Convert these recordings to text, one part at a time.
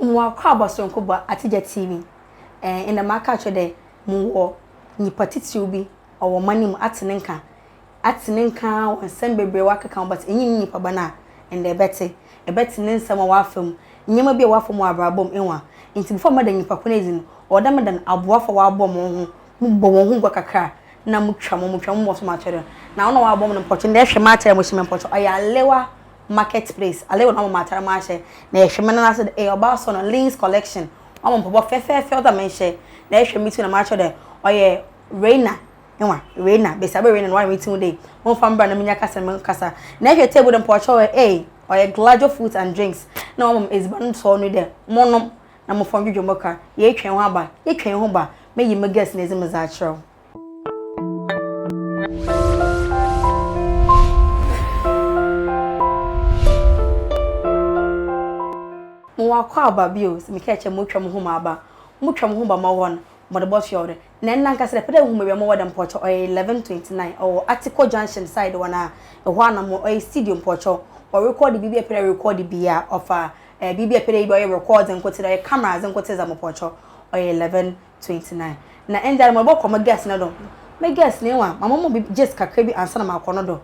Mowakɔabɔ soronko bɔ atsegya tsii bi. Ɛɛ, nna maka akyerɛ dɛ mowɔ nyimpa tsitsir bi ɔwɔ ɔman yi mu, atse ne nkã. Atse ne nkã ara wɔ nsɛm beberee a ɔakekã ho but innyi ne nyimpa ba no a ndɛ ebɛtse. Ebɛtse ne nsɛm a ɔafa mu, ndzɛmba bi a ɔafa mu wɔ abrabɔ mu, ehu a. Ntsi before mɛda nyimpa ko no edzi no, ɔwɔ dɛ meda no aboafo a wɔabɔ moho, mobɔ hɔnho gua kakra a nna motwa mo ho, motwa mo ho bɔ so ma ato do. Na hɔn a wɔabɔ mo no mpɔkyɛ, ndɛ ehwɛ m'atar a mohyɛ mu a mpɔkyɛ ɔyɛ alewaa market place ale wɔn ama atare mo ahyɛ na ɛhwɛ me nana sɛ dɛ ɛyɛ ɔbaa sɔ no lins collection wɔn ama mpɔbɔ fɛfɛɛfɛ ɔdɔ me nhyɛ na ɛhwɛ me ti na makyɛ dɛ ɔyɛ reina nwa reina bɛsi abɛ reina na wɔayɛ me ti dɛ wɔn fa mbra na me nya kasa me kasa na ɛhwɛ table dɛ mpɔkyɛ ɔyɛ ee ɔyɛ gladio food and drinks na wɔn ama edziban sɔɔ no dɛ mo nom na mo fɔn dwodwo mo ka yɛ twɛn ho aba yɛ twɛn ho ba me yi me guest na edzi me dza akyerɛw. Mowakɔ aba bio, sɛ mekɛɛ kyɛ motwa moho ma aba, motwa moho ba mɔwɔ no, mɔde bɔ fie ɔdɛ. Nɛ nna nka sɛ dɛpɛ dɛ wohu baabi a mowɔ dɛ mpɔkyɛw ɔyɛ 11:29 ɔwɔ Atiko Junction side hɔ no a, ehɔ ana mowɔ ɔyɛ studio mpɔkyɛw wɔrekɔɔde biribi a epɛ dɛ erekɔɔde bia ɔfa ɛɛ biribi a epɛ dɛ eyɛ bia ɔyɛ recording nkotsee dɛ ɔyɛ camera adze nkotsee dza mopɔkyɛw ɔyɛ 11:29. twenty nine. Na ndɛ ara morobɔkɔ mo guest no do. Me guest no ewa ma mɔma obi gist kakra bi ansaana makɔ no do.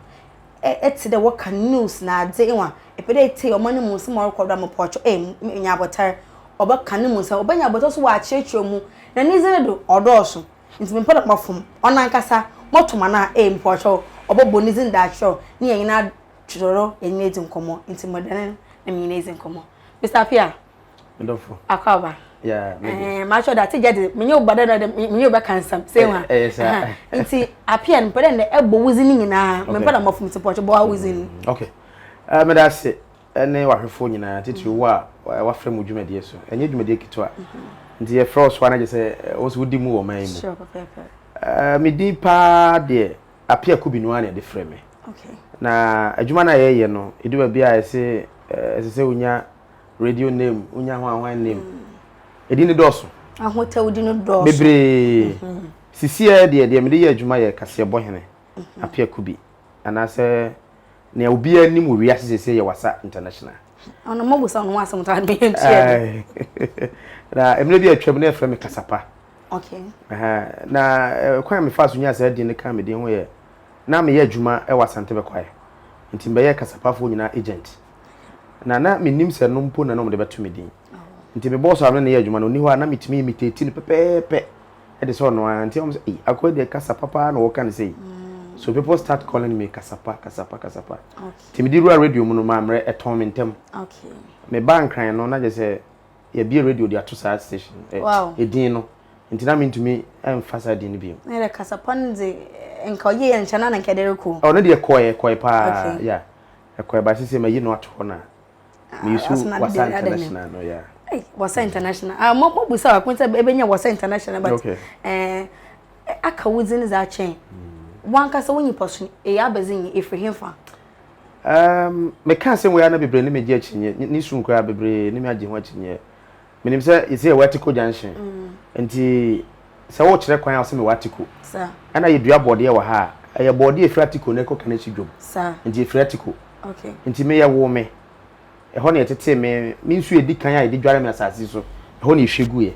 Eh etse dɛ wɔka news na adze ewa epɛ dɛ etsie ɔman no mu nsem a ɔrokɔ do a mepɔ ɔtwo eh menya abotar. Ɔbɛka no mu nsem, obenya abotar so ɔakyerɛkyerɛ mu na ne dzin no do ɔdɔɔ so ntsi mepɛ dɛ mɔfom ɔnankasa mɔto ma no a eh mepɔ ɔtwo ɔbɔbɔ ne dzin do akyerɛw na hɛn nyina adodɔ hɛn enyi edzi nkɔmbɔ ntsi mɔda no na menye no edzi nkɔmbɔ. Mister Appiah, me dɔfo akɔba yeah me eh ma sure that get me nyo bada na me nyo be kan sam say wa eh sa nti apia no pede na ebo wuzi ni nyina me pede ma fum support bo wuzi ni okay eh me da se ne wahwefo nyina titiri wo a wa frɛ mu dwumadi so enye dwumadi kito a nti e frɛ so na je se wo so wodi mu wo man mu sure papa eh me din pa de apia kubinu an e de frɛ me okay na adwuma na ye ye no edu ba bia e se e se se unya radio name wonya hwan hwan name ɛdi no dɔɔso ahotawdi no dɔɔso bebree mhm. sisiɛ deɛ deɛ mede yɛ adwuma yɛ kaseɛ bɔ hene mhm. apeako bi anaasɛ nea obiara anim wɔ wiase sɛsɛ yɛ wasa international ɔno mo busa ɔno asɛm ta de ntua na mmerɛ bi atwam na ɛfrɛ me kasapa okay na eh, kwan me fa so nya saa din no ka me din ho yɛ na meyɛ adwuma wɔ asante bɛkwae nti mbɛyɛ kasapafoɔ nyinaa agent na na menim sɛ no mpo na na wɔde bɛto me din nti me bɔɔso a ne ne yɛ adwuma no ɔni hɔ a na metumi imitate no pɛpɛɛpɛ ɛde sɛ ɔno ara nti wɔn sɛ eyi akɔyɛ deɛ kasa papa na wɔka no sɛ yi mm. so people start calling me kasapa kasapa kasapa nti mede wura radio mu no maa mmerɛ ɛtɔn me ntɛm me ba nkran no na gye sɛ yɛbie radio de ato saa station ɛdin no nti na mentumi mfa saa din no bio ne deɛ kasapa no de nka ɔyɛ yɛ nkyɛn na nka ɛde rekɔ ɔ ne deɛ kɔɛ kɔɛ paa ya Ɛkɔ ɛba sisi ma yi no ato hɔ na. Me use wasa international no ya. Hey, wasa international. Ah, mo mo busa wa kun sɛ ebe nya wasa international but. Okay. Eh, aka wo dzin za kyɛn. Hmm. Wankasa wo nyipa so e ya bɛdze nyi efiri hemfa. Um, me ka sɛ wo ya na bebree ne me gye akyinye. Ni su nkura bebree ne me agye ho akyinye. menim sɛ yɛsɛ yɛwɔ atiko junction nti sɛ wokyerɛ kwan a wosɛ mewɔ atiko ɛna yɛdua bɔɔdeɛ wɔ ha a ɛyɛ bɔɔdeɛ ɛfiri atiko na ɛkɔ kane si dwom nti ɛfiri atiko nti meyɛ wo me ɛhɔ na yɛtetee me me nsuo ɛdi kan a yɛde dware me asase so ɛhɔ na ɛhwɛ guiɛ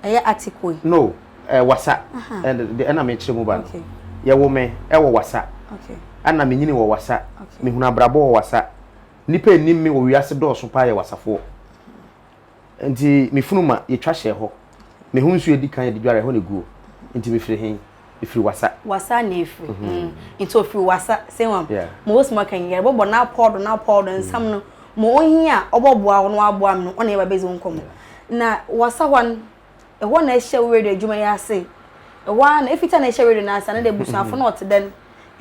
ɛyɛ atiko yi no eh, wasa ɛna mekyerɛ mu ba no yɛwo me ɛwɔ wasa ɛna menyini wɔ wasa mehunu abrabɔ wɔ wasa nnipa ɛnim me wɔ wiase dɔɔso paa yɛ wasafoɔ Nti me funu ma yɛtwa hyɛɛ hɔ. Me ho nsuo a ɛdi kan a yɛde dware ɛhɔ na ɛguo. Nti mefiri he? Mefiri Wasa. Wasa na ɛfiri. Nti ɔfiri Wasa. Sei wam? Yeah. Ma wɔsi maka yi, yɛrebɔbɔ no apɔw do no apɔw do nsɛm no, ma ohi a ɔbɔboa wo no waboa me no, ɔne yɛ ba bɛdzi wo nkɔmmɔ. Na Wasa hɔ no, ɛhɔ na ɛhyɛ wo radio adwuma yi ase. Ɛhɔ ara na, ɛfiti a na ɛhyɛ radio no ase a, na dɛ abusuafo na wɔte dɛn?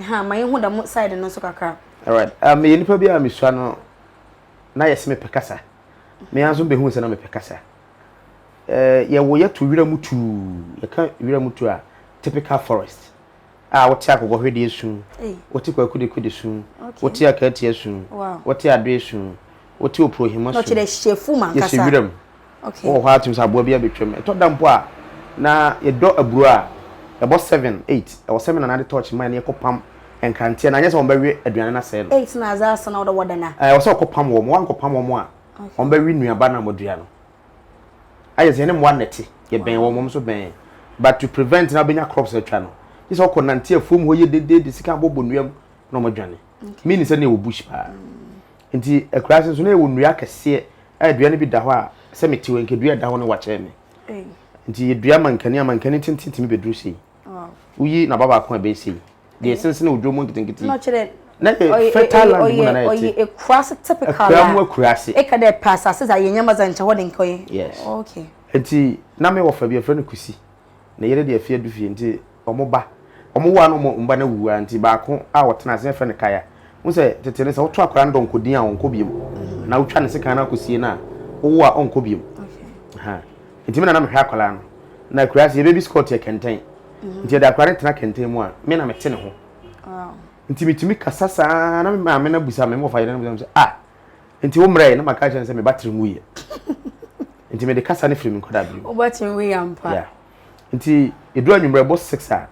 Ɛhaa, ma yɛnhu dɛm side no nso kakra. Alright, meyɛ nipa bi a mesua no na yɛse mepɛ kasa. Me ara nso mebɛhuu sɛ na mepɛ kasa. Eh, yɛwo yɛto wiram tuu. Yɛka wiram tu a, typical forest. A wote akokɔhwedeɛ esu, wote kwakudeku de su, wote akaatia su, wote adoe su, wote opurohima su. Yɛsɛ wiram. Wowɔ hɔ a tumi sɛ aboa bi abɛtwam. Ɛtɔ da mpo a, na yɛdɔ aburo a ɛbɔ seven, eight. Ɛwɔ sɛ me nana de tɔɔkye ma yɛn na yɛkɔpam. nkranteɛ no anyɛ sɛ wɔbɛwe aduane no asɛe no. Enti na adze asa na ɔwɔ dɛ wɔdan a. Ɛwɔ sɛ wɔkɔpam wɔn. Wɔankɔpam wɔn a, wɔbɛwe nnuaba no a wɔadua no. Ayɛ sɛ yɛne mmoa na ɛte, yɛbɛn wɔn, wɔn nso bɛn yɛn. But to prevent na wobɛnya crops atwa no, gye sɛ wɔkɔnante afuom hɔ yie dede de sika abobɔ nnua mu na wɔadwane. Meaning sɛ na yɛwɔ bush paa. Enti akuraa ase nso na yɛwɔ nnua akɛseɛ a dua no bi da hɔ a, sɛ mete hɔ yi, nka dua a ɛda hɔ no wakyɛre me. Enti yɛdua mankani a mankani tenten tumi bɛduru sei. woyi na ba baako a ɛbɛyɛ sei deɛ eh. ɛsensene odwo mu nketenkete yi na yɛ fertile land mu nana yɛte ɔyɛ akurase typical akura mu akurase ɛka dɛ pɛ asase dza yɛ nyama dza nkyɛ hɔ de nka ɔyɛ yes oh, okay nti na me wɔfa bi ɛfrɛ no kusi na yɛde deɛ afie adu fie nti ɔmo ba ɔmo wo a na ɔmo mba na wuwu a nti baako a ɔtena ase ɛfrɛ no kaya n sɛ tete no sɛ woto akwadaa no dɔ nkɔdin a ɔnkɔ biom mm. na wotwa ne sekan no akɔsie no a wowo a ɔnkɔ biom Nti me na na mehwɛ akwadaa no. Na akuraase yɛ baby squat yɛ kɛntɛn. Nti yɛde akwadaa no tena kɛntɛn mu a, me na mete ne ho. Nti metumi kasa saa na me maame no abusa me, me wɔfa yere no abusa me sɛ, ah, nti wo mmerɛ yi? Na maka akyerɛ no sɛ me ba tiri nwuiɛ. Nti mede kasa no firi me nkwadaa bio. Wo ba tiri nwuiɛ ampa. Yeah. Nti ɛduru anwummerɛ ɛbɔ six a,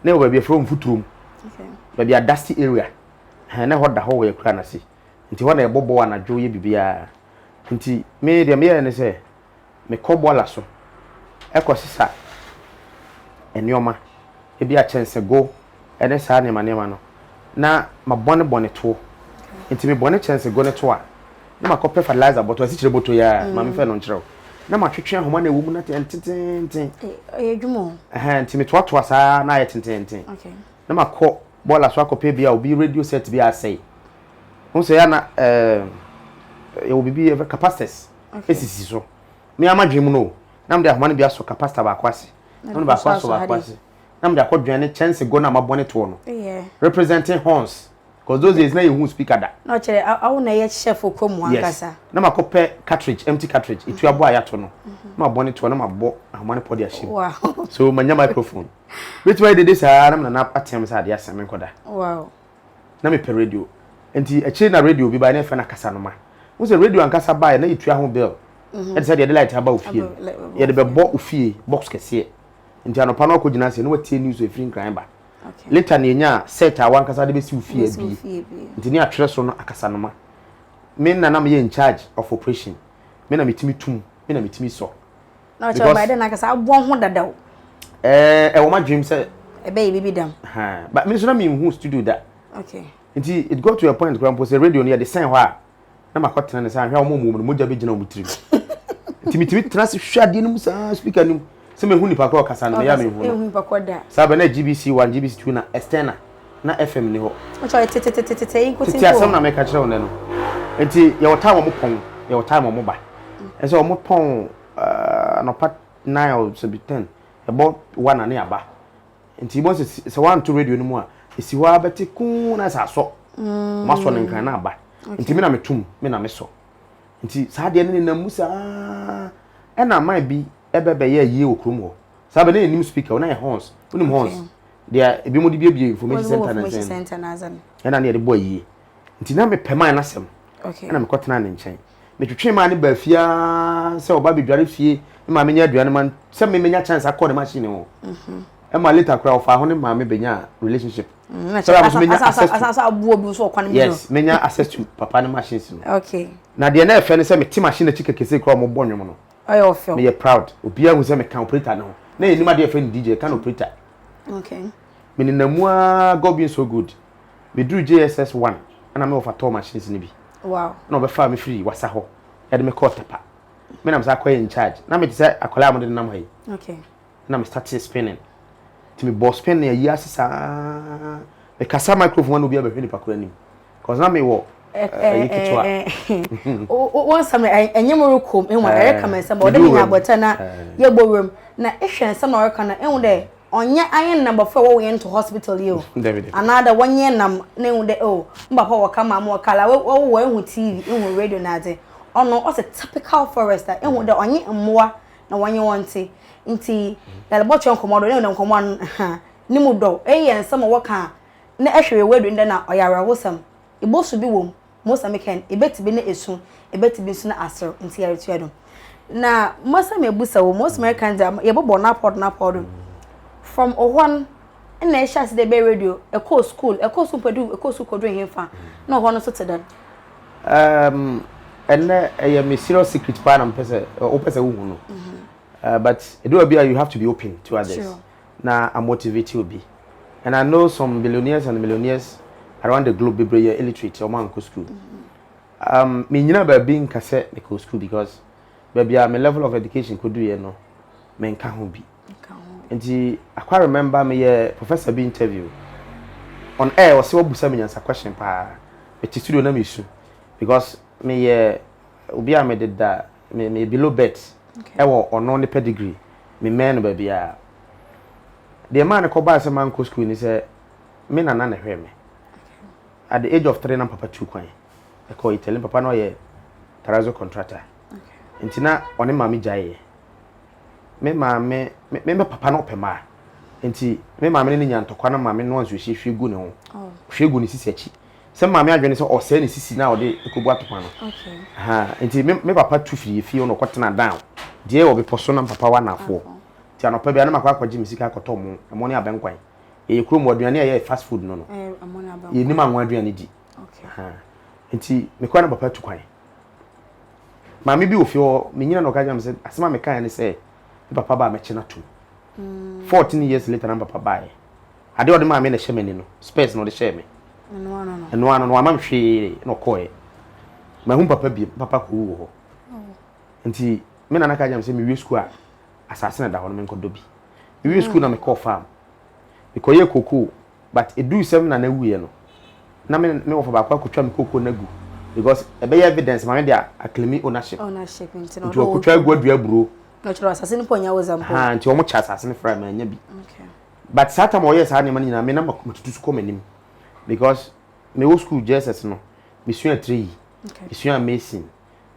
na ɛwɔ baabi ɛfrɛ mfuturom. Okay. Baabi a dusty area. Na ɛhɔ da hɔ wɔ yɛ kura no ase. Nti hɔ na ɛbɔ bɔ anadwo yɛ biribiara. Nti me deɛ meyɛɛ ne sɛ, mekɔ bɔɔla so kɔsesa nneɛma, ebi a kyɛnsegow ne saa nneɛma nneɛma no, na mabɔne bɔne tow. Enti mebɔne kyɛnsegow no tow a, na makɔpɛ fertilizer bɔtɔ, asikyire bɔtɔ yi ara a maame fɛɛ no nkyerɛ wo, na matwetwe ahoma no a ɛwɔ mu no atɛ ntenteenten. Ɛyɛ adwuma o. Ɛhɛn, enti metoatoa saa ara na ayɛ tenteenten. Na makɔ bɔɔla so akɔpɛ bi a obi radio set bi asɛe. Wohu sɛ ɛyɛ a na ɛɛ yɛwɔ biribi yɛfrɛ capacitors. sisi so me ara m'adwene mu no o, na mede ahoma no bi asɔ ka pasta baako ase, na mede baako asɔ baako ase, na mede akɔdwɛn ne kyɛnsegɔ no a mabɔ ne toɔ no, representing horns, cause those days na yɛnhuu speaker da. Na ɔkyerɛ awo na ɛyɛ chef kɔ mu ankasa. Yes, na makɔpɛ cartridge, empty cartridge, etu aboa a yɛato no, na mabɔ ne toɔ na mabɔ ahoma no pɔ de ahyɛ mu. So manya microphone. Mɛtumi ayɛ dede saa ara na Nana atea me sɛ adeɛ asa menkɔda. na mepɛ radio. Enti akyire na radio bi baeɛ na yɛfrɛ no akasanoma. Wohu sɛ radio ankasa baeɛ na yɛtua ho bill ɛte sɛ deɛ yɛde light aba ofie no. Yɛde bɛbɔ ofie box kɛseɛ. Nti anɔpa no wakɔgyina ase na watie news a ɛfiri Nkran ba. Later na yɛnyaa set a wankasa de bɛsi ofie abie. Nti ne yɛatwerɛ so no akasanoma. Me na na meyɛ in charge of operation. Me na metumi tum, me na metumi sɔ. na ɔkyerɛ ɔbaa dɛ n'ankasa abɔ ho dada o. ɛɛ ɛwɔ m'adwenem sɛ. ɛbɛyɛ biribi dɛm. but me nso na menhu studio da. okay. nti it got to a point koraa mpo sɛ radio no yɛde sɛn hɔ a na makɔ tena ne sɛ ahwɛ a wɔn wɔn no mogya bɛgyina wɔn tirim nti metumi tena ase hwɛ adeɛ no mu saa speaker no mu sɛ mehu nipa korɔ ɔkasa no meyɛ a mehu no saa bɛ na gbc one gbc two na external na FM nni hɔ. Ɔkyerɛ tetetetete yi nkotin Tete asɛm na meka kyerɛ wo nnɛ no. Enti yɛwɔ time wɔn pɔn, yɛwɔ time wɔn ba. Ɛsɛ wɔn pɔn anɔpa nine or sɛbi ten, ɛbɔ one a ne yɛaba. Enti wobɛhu sɛ sɛ woanto radio no mu a, ɛsi hɔ ara bɛte kuu na ayɛ sɛ asɔ. Wɔasɔ no nkran na aba. Enti me na meto mu, me na mesɔ. Enti saa adeɛ no nenam mu saa ara. Ɛna man bi bɛ bɛyɛɛ ayie wɔ kurom hɔ. Saa bɛ na yɛnnim speaker, na ɛyɛ horns. Wonim horns? deɛ ebinom de biebie information center na sɛn ɛna ne yɛde bɔ ayie nti na mepɛ maa no asɛm ɛna mekɔ tena ne nkyɛn metwetwe maa ne baa fie aa sɛ ɔba bɛdware fie ne maame nya aduane ma sɛ memenya chance akɔ ne machine ho mhm. ɛma later koraa ɔfaa ho ne maame bɛnya relationship mm, sɛ ɔba so menya access to yes menya access to papa ne machines no na deɛ na ɛfɛ no sɛ mete machine akyi kɛkɛsɛ koraa ɔmobɔ nwom no Ɔyɛ ɔfɛw. Meyɛ proud. Obiara hu sɛ meka operator no ho. Na yɛnim adeɛ yɛfrɛ no DJ, yɛka no operator. Okay. Menenam mu ara, God being so good. Meduru JSS 1, ɛna me wɔfa tɔɔ machines no bi. Wow. Ɛna wɔbɛfaa me firi Wasa hɔ, ɛde me kɔɔ Tɛpa. Me na mesan kɔyɛ in charge. Na mete sɛ akwadaa a wɔde nenam ha yi. Okay. na me startee spinning nti me bɔɔ spin no ayi ase saa me kasa microphone ano obiara bɛhwɛ nipa koro anim cause na me wɔ ɛyi ketewa. wɔn nsɛm no ɛnyɛ mu rekɔ mu ɛwɔ ɛreka mɛ nsɛm ɔde mi nya abɔtɛ na yɛ bɔ wura mu na ehwɛ nsɛm na ɔreka na ehu dɛ ɔnyɛ ayɛ nam bɔfra wɔwɔ yɛn to hospital yi o anaa dɛ wɔnyɛ nam na ehu dɛ o n papa wɔka maa mo wɔka la wɔwɔ wɔ ehu tv ehu radio na adze ɔno ɔsɛ typical forester ehu dɛ ɔnye mmoa. na wɔnye wɔn nte nti yɛbɔtwe nkɔmmɔ do na nkɔmmɔ ha ne mu dɔ eyi yɛ nsɛm a wɔka a na ɛhwere wɔ adu ndɛ na ɔyɛ awerɛhosɛm ebosu bi wɔ mu mose meka no ebɛte bi ne esu ebɛte bi nso ne aserew nti yɛretua do na mose mebusa wɔ mose meka dza yɛbɔbɔ n'apɔw do n'apɔw do from ohɔn na ɛhyɛ ase dɛ ɛbɛyɛ radio, ɛkɔɔ school, ɛkɔɔ so mpo du, ɛkɔɔ so kɔduru henfa, na ɔhɔ no nso te dɛn? Um, ɛnɛ ɛyɛ me serious secret paa na mpɛ sɛ wopɛ sɛ wohu no uh, but ɛdu baabi a you have to be open to others sure. na amotivate obi and I know some billionaires and millionaires around the globe bebree yɛ illiterate ɔmo ankɔ school um, menyina baabi nka sɛ mekɔ school because baabi a me level of education kɔduiɛ no menka ho bi ka ho. Nti akwa remember me yɛ professor bi interview on air ɔsɛ wabusa me nyansa question paa me te studio na me su because me yɛ obi a me de da me me below bet ɛwɔ ɔno ne pedigree me mɛn no baabiaa deɛ ɛmaa no kɔ baa sɛ mankɔ school ni sɛ me nana na ɛhwɛɛ me at the age of three na papa tu kwan ɛkɔ Italy papa na ɔyɛ terrazzo contractor nti na ɔne maame gyaeɛ. me maame, me me papa no ɔpɛ maa nti me maame ne ne nya ntɔkwa no maame no anso ɛhyɛ hwie gu ne ho oh. hwie gu ne sisi akyi sɛ maame adwene sɛ ɔsɛe ne sisi na ɔde ɛkɔbu atokwa no nti me, me papa tu firi efie ɔno ɔkɔtena down deɛ wɔ bepɔ so na me papa wɔ anafoɔ nti anɔpa bia na makɔ akɔgye me sika akɔtɔ mo ɛmo ne abɛnkwan yɛyɛ kurom wɔ aduane a yɛyɛ fast food no no eh, yɛnim anwa aduane di nti mekɔ na papa tu kwan Maame bi wɔ fie hɔ, menyina na ɔka kyerɛ me sɛ, asɛm a mekaeɛ ne sɛ, me papa ba a mɛkye no atom. Fourteen years later na me papa baeɛ. Adeɛ a ɔde maa me na ɛhyɛ m'ani no, spurs na ɔde hyɛɛ me. Ɛno ano no. Ɛno ano no, wamma me hwee na ɔkɔeɛ. Mahu me papa biom, me papa kɔwu wɔ hɔ. Nti me nana ka kyerɛ me sɛ mewie sukuu a, asase na ɛda hɔ no menkɔdɔ bi. Mewie sukuu na mekɔɔ farm. Mekɔyɛɛ cocoa But eduu sɛ me nana wuiɛ no, na me ne me wɔfa baako akɔtwa me cocoa no agu because ɛbɛyɛ evidence maame de aclaimi ownership. Ownership nti na ɔde Nti ɔkɔtwa agu adua aburo. Na ɔkyerɛ asase no mpo ɔnya wodza mpo. Haa nti wɔn kyɛ asase no fra manya bi. Okay. But saa tam a ɔyɛɛ saa nneɛma no nyinaa me na matutu so kɔ m'anim because mewɔ school JSS no mesua treyi, Okay. mesuaa mason,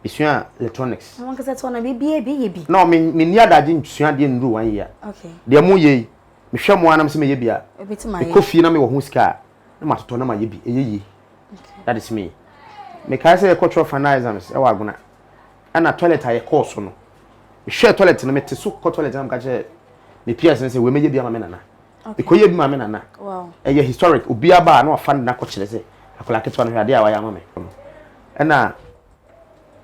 mesuaa electronics. Na wankasa tɔn na biribiara bi yɛ bi. No, me menni adagye nsua adeɛ nnuru one year. Okay. Deɛ moyɛ yi. Mehwɛ mo ara na mesɛ mɛyɛ bi a. Mekɔ fie na mewɔ ho sika a, na matotɔ na mayɛ bi. Ɛyɛ yie. That is me. Mekae sɛ yɛkɔ twerɛ final exams wɔ Agona. Ɛna toilet a yɛkɔɔ so no, mehwɛɛ toilet no, mete so kɔ toilet na meka kyerɛ me peers no sɛ wei mɛyɛ bi ama me nana. Mekɔyɛɛ bi ma me nana. Ɛyɛ historic. Obiara ba a na wafa ne nana kɔkyerɛ sɛ akwadaa ketewa no hwɛ adeɛ a wayɛ ama me. Ɛna.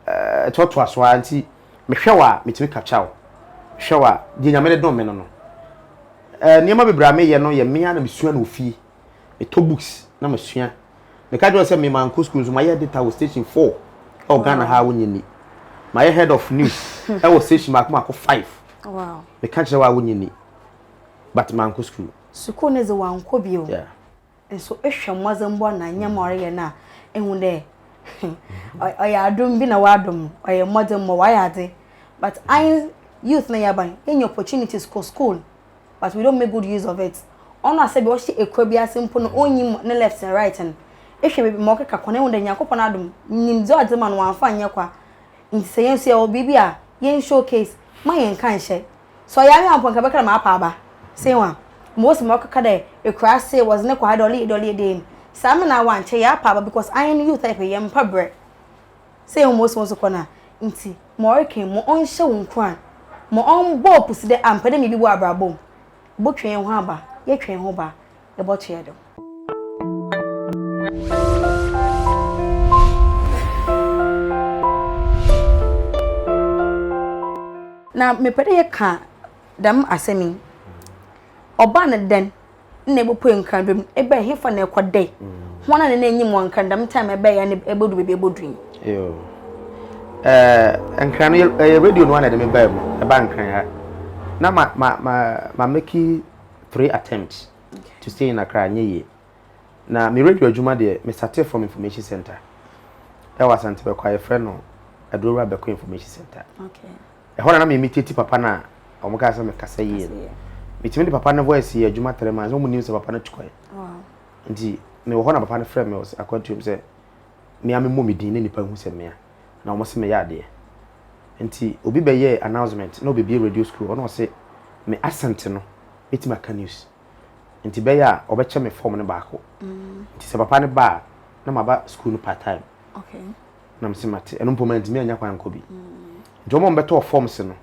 ɛtoatoa so ara nti, mehwɛ wo a, metumi kapkya wo. Mehwɛ wo a, deɛ Nyame de dom me no no. Eh, nneɛma bebree a meyɛ no yɛ me ara na mesua no wɔ fie. Metɔ books na masua. Meka kyerɛ wo sɛ me mankɔ school nso, mayɛ editor wɔ station four wɔ Ghana ha a wonnye nni. Mayɛ head of news wɔ station baako baako five. Meka kyerɛ wo a wonnye nni. But mankɔ school. Sukuu no dze wankɔ bio. Yeah. Nso ehwɛ mbɔdzembɔ na ndzɛmba a ɔreyɛ no a, ehu dɛ ɔyɛ adom bi na ɔadom no, ɔyɛ mbɔdzembɔ, ɔayɛ adze. But ae youth na yɛaba no, yenya opportunities kɔ school but we don't make good use of it. Ɔno a sɛ bi ɔhyɛ ekura bi ase mpo no onnyim ne left na right no, ehwɛ beebi ma ɔkeka kɔ no ehu dɛ Nyankopɔn adom nyimdze a ɔdze ma no ɔammfa annyɛ kwa. Ntsi sɛ hɛn so yɛwɔ biribi a, yɛn showcase, mma yɛnnka nnhyɛ. Sɛ ɔyɛ anwen a mpo nka bɛka dɛ maapa aba. Sei wan? Mma osi ma ɔkɛka dɛ ekuraase, wɔdze no kɔ ha dɛ ɔleyɛ dɛn ɔleyɛ dɛn. Sɛ ame na awan nkyɛ yɛapa aba because anwen no you type yɛ mmpa brɛ. Sɛ yehu ma osi wo so kɔ no a. Ntsi ma ɔrekɛn ma ɔnhyɛ wo nkuran. Ma ɔmbɔ wo pusi dɛ ampɛ dɛ miribi wɔ abrabɔ mu. Ebotwe hɛnho aba, yɛtwe hɛnho ba. ebɔtoa do. Na mepɛ dɛ yɛka dɛm asɛm yi, ɔbaa no dɛn na ebopue nkrado mu, ebɛn hefa na ɛkɔdae, hɔn a na n'enyim wɔ nkran dɛm time ɛbɛyɛ na ebodu beebi ebodu yi. Yoo. Ɛɛ nkran no ɛyɛ radio no na ɛde me baa mu, ɛbaa nkran ha. Na ma ma ma ma meki three attempts to stay in Accra, anyɛ yie. Na me radio adwuma deɛ, me startee from information centre ɛwɔ Asante Bɛkɔ a yɛfrɛ no Adurowura Bɛkɔ Information Centre. Ɛhɔ na na me imitate papa no a wɔn kaa sɛ mekasa yie no. Metumi de papa no voice yɛ adwuma three months, wɔn nim sɛ papa no tu kwan. Nti mewɔ hɔ na papa no frɛ me wɔ akwantuom sɛ mea memmɔ me din na nnipa nhu sɛ mea. na wɔse meyɛ adeɛ nti obi bɛyɛɛ announcement na ɔbɛbie radio school hɔ na ɔse me accent no bɛtumi aka news nti bɛyɛ a ɔbɛkyɛ me form no baako nti sɛ papa no ba a na maba school no part time na mese mate ɛno mpo mantumi anya kwan nkɔ bi nti wɔn a wɔbɛtɔɔ forms no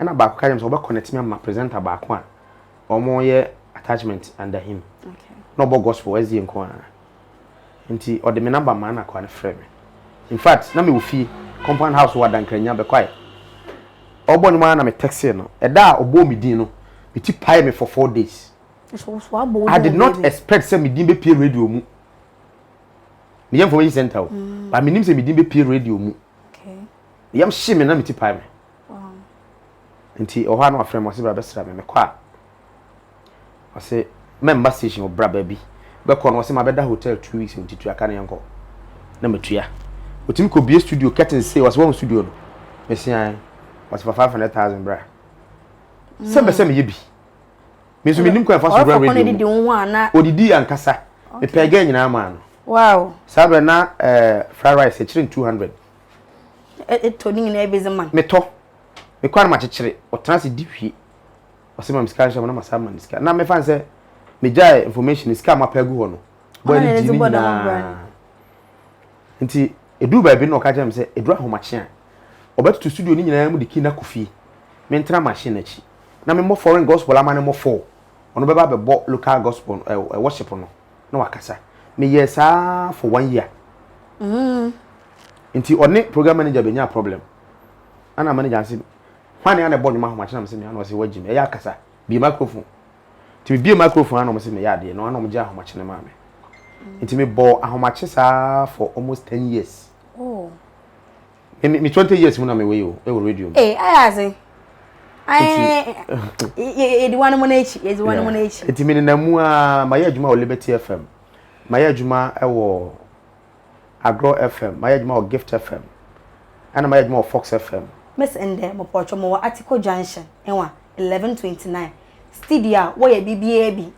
ɛna baako ka yɛm sɛ wɔbɛconnect me ama presenter baako a wɔyɛ attachment under him na ɔbɔ gospel ɛsdeɛ nko ara Ntsi ɔde me number maa n'akoa no frɛɛ me. Infact na mewɔ fie, compound house wɔ Adankranya, Bɛkwae. Ɔbɔ ndwom ara na me textee no. Da a ɔbɔɔ me dzin no, me tsir paee me for four days. I did not expect sɛ me dzin bepue radio mu. Meyɛ information centre o, but mennim sɛ me dzin bepue radio mu. Yamu hyee me na me tsir paee me. Ntsi ɔhɔ a na ɔafrɛ me, ɔse bra bɛsera me. Mekɔ a. Ɔse mɛmba station wɔ bra baabi bɛkɔ no ɔse mabɛda hotel two weeks nti tua ka na yɛnkɔ na matua otumi kɔ bie studio curtain sei ɔse wahu studio no mese ae ɔse fa five hundred thousand bra sɛ mpɛ sɛ meyɛ bi me nso menim kwan fa so wura radio mu odidi ankasa mepɛɛ gɛ nyinaa maa no wow saa berɛ na eh, fried rice ɛkyerɛ n two hundred ɛtɔ ne nyinaa ɛbɛzi ma metɔ mekɔ no makyekyere ɔtena se di hwie ɔse ma me sika nhyɛ mu na masan ama no sika na mefa no sɛ megyae information sika a mapɛ agu hɔ no bɔɔ ne gyi ne nyinaa nti ɛduu baabi na ɔka kyerɛ me sɛ ɛduru ahomakye a ɔbɛtoto studio no nyinaa mu de kii no akɔ fie mentena machine no akyi na memmɔ foreign gospel ama no mmɔ fɔɔ ɔno bɛba bɛbɔ local gospel eh, eh, worship no na wakasa meyɛɛ saa for one year mm. nti ɔne program manager bɛnya problem ana manager ase hwan na na ɛbɔ nnwom ahomakye na wɔn sɛ mia na wɔn sɛ wɔagyim ɛyɛ akasa bie microphone nti me bie microphone ana wɔn sɛ meyɛ adeɛ na ana wɔn gye ahomakye no maa me nti me bɔ ahomakye saa for almost ten years oh. me me twenty years mu na me wɔ yi o ɛwɔ radio mu. ee eh, ayɛ ase yɛdi wɔn mo n'akyi yɛdi wɔn mo n'akyi. eti mi nenam mu aa ma yɛ adwuma wɔ liberty fm ma yɛ adwuma wɔ Agro FM, mayɛ adwuma wɔ Gift FM, ɛna mayɛ adwuma wɔ Fox FM. Miss ndɛ mopɔtwɔ mowɔ Article Junction nwa eleven twenty nine studio a wɔ yɛ biribiara bi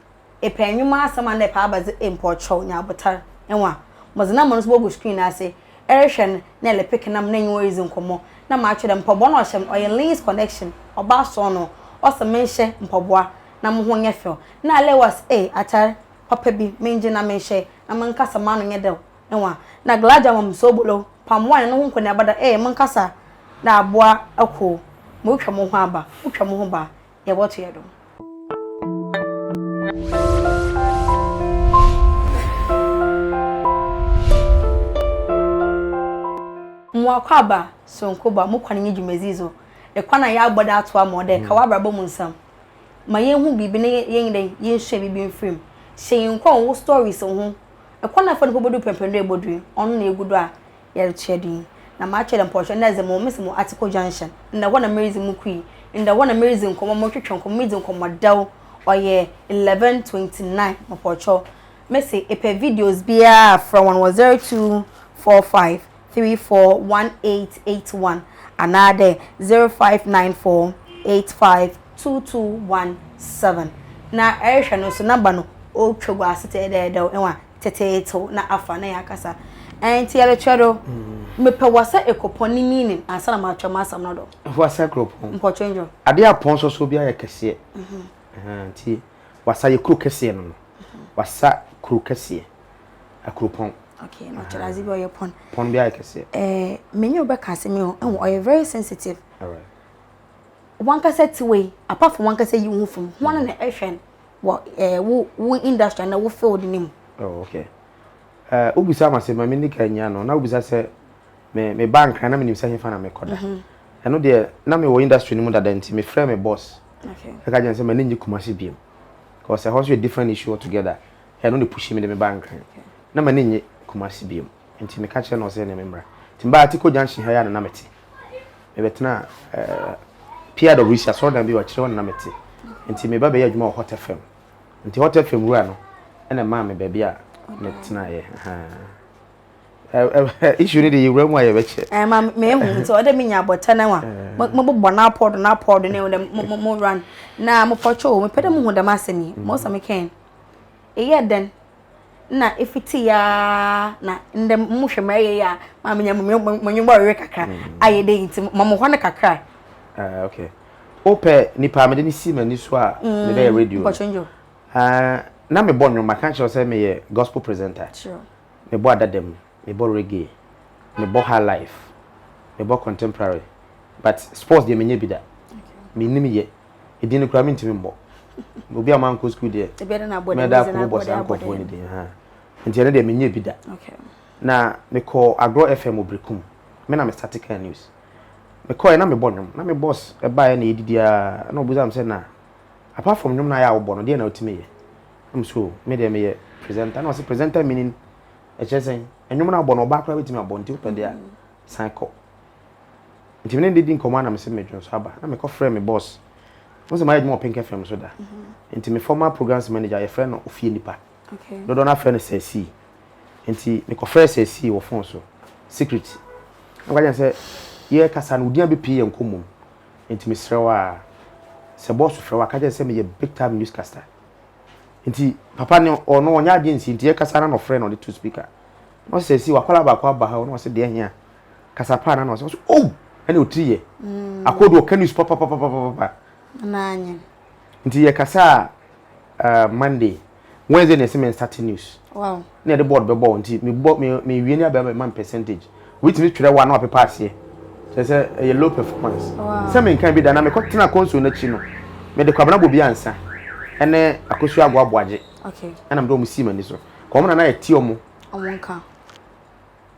epɛ nwoma asɛm anaa epɛ abadze mpɔtwɔ nya abotar nwa modze number no so bogu screen no ase erehwɛ no na elepeke nam na enye wo ridzi nkɔmbɔ na maatwerɛ dɛ mpɔboa no ɔhyɛ me ɔyɛ Lee's connection ɔba asɔn no ɔse menhyɛ mpɔboa na moho nyɛ fɛw na Leewas ee atar papa bi mengye na menhyɛ na me nkasa m'ano nyɛ dɛw ne hɔn, na Gladja Mamsoubolou pamoa hɛn ho nkɔneaba dɛ, Ee, me nkasa na aboa ako o, morutwa moho aba, motwa moho ba a, yɛbɔto hɛn do. Mo akwaaba soronko ba, mo kwan nye dwumadzi dzo, ekwan a yɛabɔ do atoa ma ɔdɛ ka w'abrabɔ mu nsɛm. ma yɛnhu biribi na yɛnyɛ dɛn, yɛnsua biribi mfiri mu. Hyɛ yɛn nkuran wo stories ho. Ɛkwan a ɛfa do kɔbɛdu pɛmpɛn do a ɛbɔ duru, ɔno na ɛgu do a yɛrekyerɛ do yi. Na makyerɛ dɛ mpɔhwɛ nna dze mo mesi mo Article Junction, nna hɔ na meridzi mo kui, nna hɔ na meridzi nkɔmbɔ, morotwetwe nkɔmbɔ, miridzi nkɔmbɔ dɛw, ɔyɛ eleven twenty nine mepɔkyɛw. Mese epɛ videos biara a frɛ hɔn wɔ zero two four five. three four one eight eight one anaadɛ zero five nine four eight five two two one seven. Na ɛrehwɛ no so number no ɔretwa gu ase tɛɛdɛɛdɛw ɛwa teteetew na afa na yɛakasa. Ɛnti yɛrekyerɛ do, mepɛ wasa ekropɔn ne meaning ansa na makyerɛ m'asɛm no do. Wasa ekropɔn. Mpɔkyɛ ndwo. Adeɛ a pɔn sɔsɔ biara yɛ kɛseɛ. Ɛhɛn nti wasa yɛ kuro kɛseɛ no no. Wasa kuro kɛseɛ. ɛkoro pɔn. okay na ɔkyerɛ adze bi ɔyɛ pɔn. pɔn bi ayɛ kɛseɛ. ɛɛ menye wo bɛka asɛm yi o ɛho ɔyɛ very sensitive. alright. wankasa ti wei apart from wankasa yi ho fam ho mm. na ɛhwɛ no wɔ ɛɛ wo wo industry na wo field ne mu. oh okay ɛɛ uh, wobisa ma sɛ ma mi nika nyia no na wobisa sɛ me me ba nkran na menim sɛ hefa na mekɔda mhm. ɛno deɛ na mewɔ industry no mu dada nti mefrɛ me boss ɛka gyɛn sɛ m'ani nye kumase biam because ɛhɔ nso yɛ different issue altogether Ɛno na ɛpushii me de me baa Nkran. Na m'ani nnye Kumasi biom, enti meka kyerɛɛ no ɔsɛ ɛneɛ memmra. Nti mebaa Atiko Junction ha yi ara na na mete. Mebɛtenaa ɛɛ PIWC asɔredan bi wɔ akyire hɔ na na mete. Nti meba bɛyɛɛ adwuma wɔ Hot FM. Nti Hot FM wura no na ɛmaa me baabi a metenaeɛ. Ahaa. Issue no deɛ yɛwura mu a yɛbɛkyɛ. Ɛɛ ma mehu nti ɔdɛ menya abɔta no wa. Mobobɔ no apɔ do no apɔ do na ɛhu dɛ mo run na mopɔtwoo. Mepɛ dɛ mohu dɛm asɛm yi. Most of me can. Eyɛ dɛn na efitsi ara na ndɛ mohwɛ ma eyɛ yi a ma menya mu mo ndwom bɔwewe kakra ayɛ dɛ ntsi ma mo hɔ no kakra. Ah okay. Wopɛ nipa a mede no si m'ani so a mm, mede yɛ radio no? Ah, na mebɔ nnwom, maka kyerɛ sɛ meyɛ gospel presenter. Mebɔ adadam, mebɔ reggae, mebɔ high life, mebɔ contemporary. But sports deɛ menyɛ bi da. Menim yɛ. Edin no koraa mentumi mmɔ. Obi a mankɔ sukuu deɛ, mɛda ako bobɔ saa nkurɔfoɔ no din ha. Nti ɛno deɛ menyɛ bi da. Na mekɔɔ Agorɔ FM wɔ Berekum. Me na me starte kaa news. Mekɔeɛ na mebɔ nnwom. Na me boss baeɛ na yɛdidi ara na ɔbusa me sɛ na apart from nnwom no a yɛ a wobɔ no, deɛ na wotumi yɛ? Na me so me deɛ meyɛ presenter. Na ɔse presenter meaning ɛkyerɛ sɛn? Nnwom no a wobɔ no ɔbaa koraa bɛtumi abɔ nti wopɛ deɛ a san kɔ. nti me ne no di nkɔmmɔ a na mese medwonsɔ aba na mekɔfrɛ me boss mo sɛ mayɛ adwuma wɔ Pink FM so da mm-hmm. nti me former programs manager yɛfrɛ no ofie nipa dodoɔ no afrɛ no sɛ sii nti mekɔfrɛ sɛ sii wɔ phone so secret na mekɔgye sɛ yɛkasa no wodin abɛpie yɛ nkɔmmɔ mu nti mesrɛ wo a sɛ boss frɛ wo a ka kyerɛ sɛ meyɛ big time newscaster nti papa ne ɔno ɔnyɛ adeɛ nsi nti yɛkasa na na ɔfrɛ na ɔde to speaker na ɔsɛ sɛ sii wakɔla baako aba ha na ɔsɛ deɛ hia kasa pa na na ɔsɛ ɔsɛ ow ɛna otiri yɛ mm. akɔdu ɔka news papapapapapa nti yɛ kasa a uh, monday wednesday na ɛsɛ mɛ start news na yɛde board bɛbɔ nti mebɔ mewie ne abɛma ma percentage wobɛtumi twerɛ wa na wapepa aseɛ kyerɛ sɛ ɛyɛ low performance sɛ menka bi da na mekɔtena kɔnso no akyi no mede kwabena bɔ bi ansa ɛne akosu agoaboagye ɛna mede ɔmo sii m'ani so kɔmna na yɛte ɔmo ɔmo nka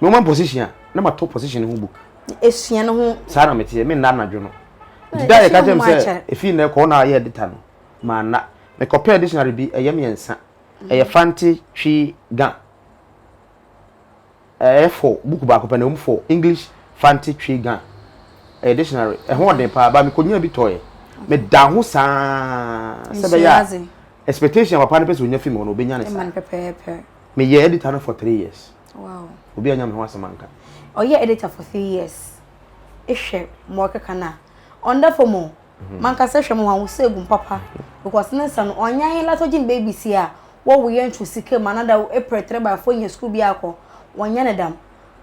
Me woma position a na ma to position no ho book. Esua no ho. Saa na mete me nna anadwo no. Nti da yɛ ka kyerɛ me sɛ efi nnɛ kɔ na ayɛ edita no. Ma nna. Me kɔ pɛ dictionary bi ɛyɛ mmiɛnsa. Ɛyɛ Fante Twi Ga. Ɛyɛ fɔ book baako pɛ na ɛwom fɔ English Fante Twi Ga. Ɛyɛ dictionary. Ɛho ɔden paa ba me kɔ nya bi tɔ yɛ. Me da ho saa sɛ bɛ yɛ expectation papa no pɛ sɛ onya fi me hɔ no obe nya ne saa. Me yɛ edita no for three years. Wow. Obi anya me ho asɛm anka. Ɔyɛ editor for three years. Ehwɛ ma ɔkeka no a. Ɔnda fam o. Mhm. Mankasa hwɛ mo ho a wosɛ gu mpapa because ne nsa no ɔnyɛ ahe lato gye baby si a wɔwoyɛ ntwo sika mu anada april three by four nya sukuu bi akɔ wɔnyɛ ne dam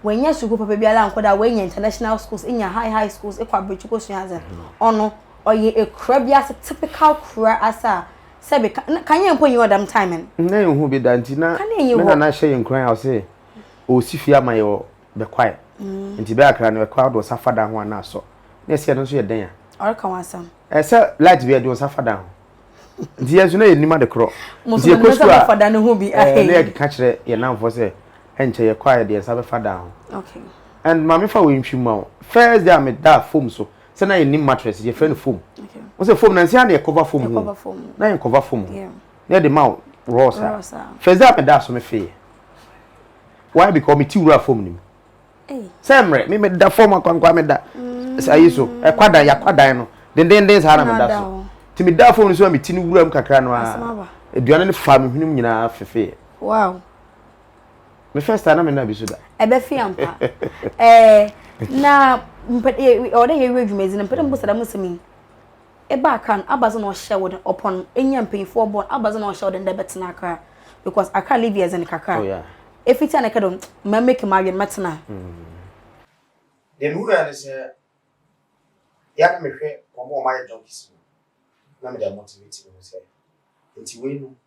wɔanya sukuu papa biara ankɔ da wɔanya international schools nya high high schools kɔ abirikyi kɔ sua adze mhm. ɔno ɔyɛ ekura bi ase typical kura ase a sɛ bi ka na kanea mpo nyi hɔ dɛm time no. Nna yɛn hu bi da nti na me nana hyɛ yɛn nkuran a ɔse ɔresi fie ama yɛ wɔ bɛkwae nti bɛ akra no ɛkɔ a ɔde ɔsa fa dan ho a na asɔ na yɛse ɛno nso yɛ dɛn a ɔreka ho asɛm ɛsɛ light bi a ɛde ɔsa fa dan ho nti yɛn nso na yɛ nim ade korɔ nti yɛ kɔ sukuu a ɛɛ na yɛ keka kyerɛ yɛn nanfoɔ sɛ ɛnkyɛ yɛ kɔ a yɛ de yɛn nsa bɛfa dan ho and maame fa wei ntwi ma wo first day a me da fom so. sɛ na yɛn nim mattress yɛ fɛ no foam wɔn sɛ foam na nsia na yɛ cover foam ho na yɛn cover foam ho na yɛ de ma rose a first day a mi da so mi fɛ yɛ why because mi ti wura foam nim sɛ mmerɛ mi mi da fam akwankwa mi da mm. sɛ ayi so ɛkwa dan yakwa dan no dendenden saa na mi da so ti mi da foam no so a mi ti no wura mu kakra no a aduane no fa mi hwene mu nyinaa fɛfɛ yɛ. me first time na me na bi so da ɛbɛ fi ampa ɛɛ na mpɛ ɔwɔ dɛ yɛwie dwumadzi no mpɛ dɛ mo bɔsɛ dɛm nsɛm yi ɛba akra no abadze na ɔhyɛ wo dɛ ɔpɔn enya mpanyinfoɔ bɔn abadze na ɔhyɛ wo dɛ ndɛ bɛtena akra because akra live yɛ dzen kakra oh, efiti a na ɛkɛ dɛ mɛ make ma awie mɛtena. Mm. deɛ ne wura ne sɛ yɛ na mehwɛ wɔn a wɔayɛ junkies no na mede amotivate mu sɛ nti wei no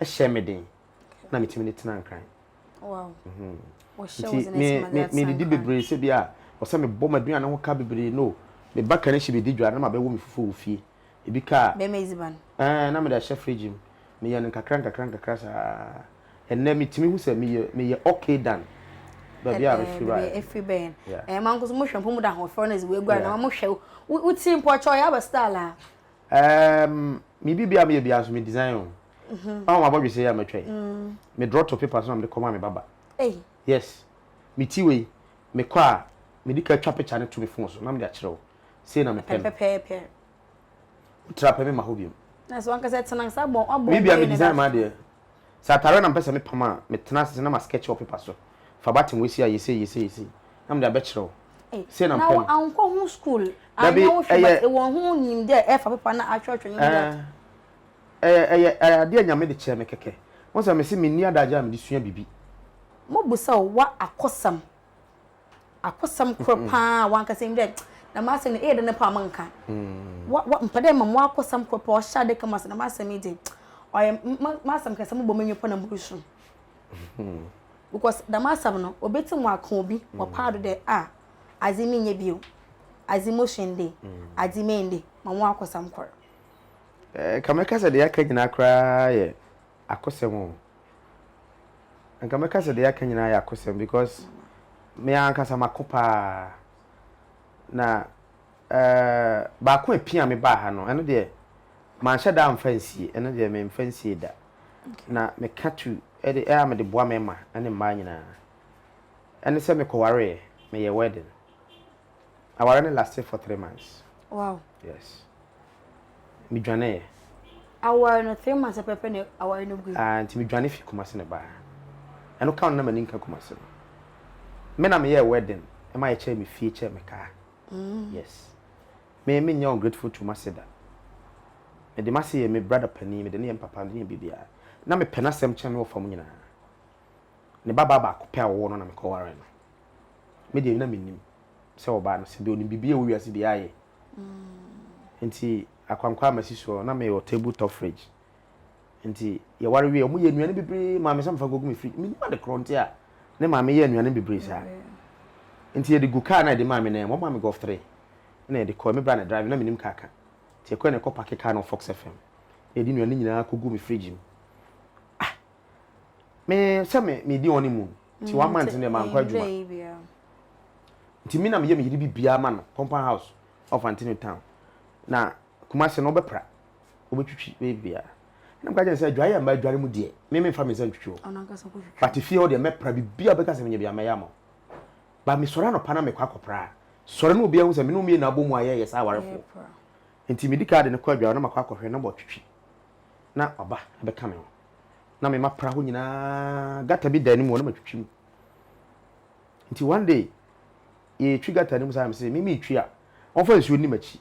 hyɛɛ me den na metumi de tena Nkran. Wow. Mhm. Nti me me me didi bebree sɛ bi a ɔsɛ me bɔ m'aduane ho ka bebree no. Me ba kan hye bedi dwa na ma bɛwɔ me fufu wɔ fie. Ebi ka a. Bɛma edziban. Ɛɛ na me de ahyɛ fridge mu. Me yɛ no nkakra nkakra nkakra saa. Ɛnɛ me tumi hu sɛ me yɛ me yɛ okay dan. Baabi a me firi ba. Ɛɛ efiri bɛn. Ɛɛ ma nkoso mo hwɛ mpo mo da ahoɔfɛ na dze wɔ egua na ma mo hwɛ wo wo tiri mpo ɔkyɛ ɔyɛ aba style a. Um, me bi bia me yɛ bia so me design o. Mhm. Ah, ma bɔdwe sɛ ya matwa yi. Mm. Me draw to paper so na me kɔ ma me baba. Ei. Yes. Me ti wei. Me kɔ a me di ka twa picture ne to me phone so na me de akyerɛ wo. Sei na me pɛ. Pɛpɛpɛpɛ. Tra pɛ me ma ho biom. Na so ankasa tena sa bɔ abɔ. Me bia me design ma deɛ. Sɛ atareɛ na mepɛ sɛ mepam a, metena ase na maskɛkye wɔ pepa so. Fa batten wei si ayɛ sei, yɛ sei, yɛ sei, na mede abɛkyerɛ wo. Sei na mepɛ no. Na woankɔ ho school anyɛ wo hwee but ewɔ ho nimdɛ ɛfa pepa no ahwɛhwɛ no mu that. Ɛɛ, ɛyɛ adeɛ a Nyame de kyɛɛ me kɛkɛ. Wohu sɛ mese menni adagyeɛ a mede sua biribi. Mobisa o, wa akɔsɛm. Akosɛm koro paa a wankasa nim dɛ na m'asɛm no ɛyɛ dɛ ne paa menka. Mpɛ dɛ mema mo akosɛm koro paa ɔhyɛ adaka mu ase na m'asɛm yi de ɔyɛ m'asɛm kɛse mobɔ m'ani pɔ na moresu. Because dɛm asɛm no obetum aka obi wɔ paa do dɛ ah adze menyɛ bio, adze mosua ndɛ, adze meyɛ ndɛ, ma mo akosɛm koro. Ɛɛ ka mɛka sɛ deɛ aka nyinaa koraa yɛ akosɛm o. Nka mɛka sɛ deɛ yɛaka nyinaa yɛ akosɛm because me ara ankasa mako paa. Na eh, baako a ɛpia me baa ha no, ɛno deɛ manhyɛ da amfa nsie, ɛno deɛ memfa nsie da. Na meka tu de a mede boa mmarima ne mmaa nyinaa. Ɛne sɛ mekɔwareeɛ, meyɛɛ wedding. Awareɛ no lasted for three months. Wow. Yes. Medwaneeɛ. Aware no three months pɛpɛ na aware no gui. Ah, nti medwane fi Kumasi na baa. Ɛno ka no na m'ani nka Kumasi no. Me na meyɛɛ wedding ma yɛkyɛɛ me fie kyɛɛ me kaa. Yes. Me menyɛ ungrateful to m'ase da. Mede m'ase yɛ me brother panin, mede no yɛ me papa, mede no yɛ biribiara. Na mepɛ n'asɛm kyɛn me wɔfa mu nyinaa. Ne babaa baako pɛ a ɔwɔ no na mekɔwaree no. Me deɛ na mennim. sɛ wɔbaa no sɛ deɛ ɔnim biribi a ɛwɔ wiase deɛ ayɛ nti akwankwa amasi soɔ na meyɛ wɔ table top fridge nti yɛware wie ɔmo yɛ nnuane bebree maame sɛ mefa nkɔgu me fridge menim ade korɔ nti a ne maame yɛ nnuane bebree saa nti yɛde gu kaa na yɛde maame nan mu ɔmo maame golf three na yɛde kɔ me bra na drive na menim kaa ka nti yɛkɔ na yɛkɔ pake kaa no fɔk sɛ fam na yɛde nnuane nyinaa kɔgu me fridge mu me sɛ me medi wɔn mu nti mm, one month ne mankɔ adwuma nti me na meyɛ meyere biribiara ma no compound house of antino town na kumase no wobɛpra wobɛtwitwi biribiara na mka kyɛn sɛ adware a mma adware mu deɛ me memfa me nsa ntwitwi o but fie hɔ deɛ mɛpra biribiara wobɛka sɛ menyɛ bia mɛyɛ ama ba mesɔre anɔpa na mekɔ akɔpraa sɔre no obiara hu sɛ me ne omiɛ na abɔ mu ayɛ yɛ saa awarefoɔ nti medi kaa de no kɔ adware na makɔ akɔhwɛ na bɔtwitwi na ɔba bɛka me ho na me mapra hɔ nyinaa gata bi da anim hɔ na matwitwi mu nti one day yɛtwi gata no mu saa sɛ mimi twi a wɔmfa nsuo nni m'akyi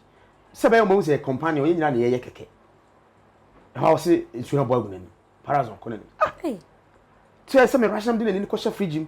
sɛ bɛyɛ wɔn sɛ companion yɛn nyinaa na yɛyɛ kɛkɛ ɛhɔ a wɔse nsuo abɔ agu n'ani parazon kɔ n'ani ah kyerɛ sɛ me rahyɛm de n'ani kɔhyɛ fridge mu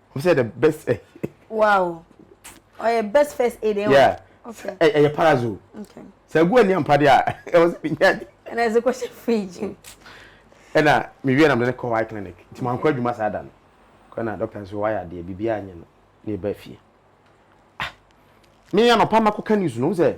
Ɔbɛ sɛ the best ɛ. Wow. Ɔyɛ best first aid ɛwɔ. Yeah. Okay. Ɛ ɛyɛ parazo. Okay. Sɛ egu ɛni ampade a ɛwɔ sɛ mi nya. Ɛna ɛsɛ kɔ hyɛ fridge. Ɛna mi wie na mi ne kɔ eye clinic. Ti ma nkɔ adwuma saa da no. Kɔ na doctor nso wayɛ adeɛ bibi a nyɛ no na eba fie. Ah. Mi anɔpa ma kɔ ka news no sɛ.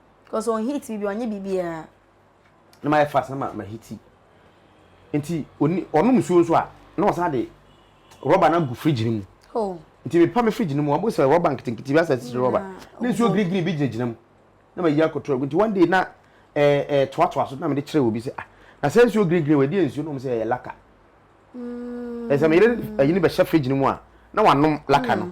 Cause on hit bibi ɔnye bibiara. Na ma yɛ fast na ma ma hiti. Nti oni ɔnom nsuo nso a na ɔsan de rɔba no agu fridge no mu. Oh. Nti mepa me fridge no mu ɔbo sɛ rɔba nketenkete bi asɛ sisi rɔba. Na nsuo green green bi gyinagyina mu. Na ma yi akɔtɔ agu nti one day na ɛɛ ɛɛ toatoa so na mede kyerɛ obi sɛ ah na sɛ nsuo green green wɔ ɛdeɛ nsuo na ɔmo sɛ ɛyɛ laka. Mm. Ɛsɛ meyere ɛyi no bɛhyɛ fridge no mu a na wanom laka no. Mm.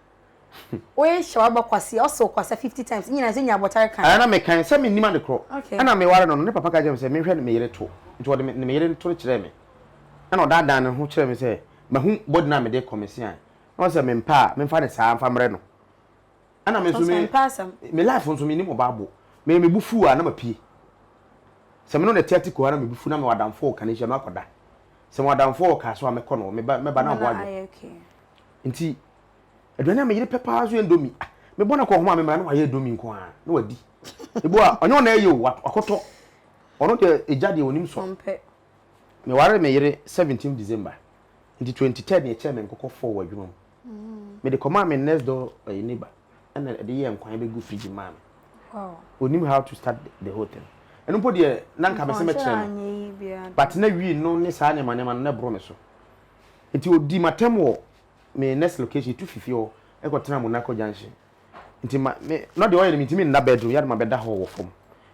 Wo yɛ hyɛ waba kwasia ɔsɛ wo kwasia fifty times ne nyinaa sɛ nya abɔtare kan. Ɛɛ na me kan sɛ me nim ade korɔ ɛna me ware no no ne papa ka kyerɛ me sɛ me nhwɛ me yere to nti ɔde me yere to no kyerɛɛ me ɛna ɔdaa daa ne ho kyerɛɛ me sɛ mahu body no a me de kɔ me se ae na ɔsɛ me mpɛ a me mfa ne saa mfa mrɛ no ɛna me nso me me life nso me nim ɔbaa bo me me bo fu a na ma pie sɛ me no ne te ate koraa na me bo fu na me wɔ adamfo wɔ kanehyia me akɔ da sɛ me wɔ adamfo wɔ kaa so a me kɔ no me ba me ba na ɔbo adwo. Nti aduane a me yere pɛ paa nso yɛ ndomi. Ah, me bɔ no kɔ home a me mmerɛ na wayɛ ndomi nko ara na wadi. Ebu a ɔnyɛ ɔna ɛyɛ o, wakɔtɔ. Ɔno deɛ egya deɛ onim sɔ. Ɔmpɛ. Me ware me yere 17 December. Nti 23rd na yɛkyɛɛ me nkokɔ four wɔ adwuma mu. Me de kɔmaa me next door ɛyɛ neighbor ɛna ɛde yɛɛ nkwan bɛgu fridge mu maa me. Wow. Onim how to start the whole thing. Ɛno mpo deɛ na nka me se mɛkyerɛ no. But na wii no ne saa nneɛma nneɛma no na ɛboro me so. Nti ɔdii m'atɛm wɔ me next location, yɛtu fi fie hɔ kɔtenaa Monaco junction. Nti ma me, na deɛ ɔyɛ no mentumi nna bed room, yɛ a na mabɛda hɔ wɔ fam.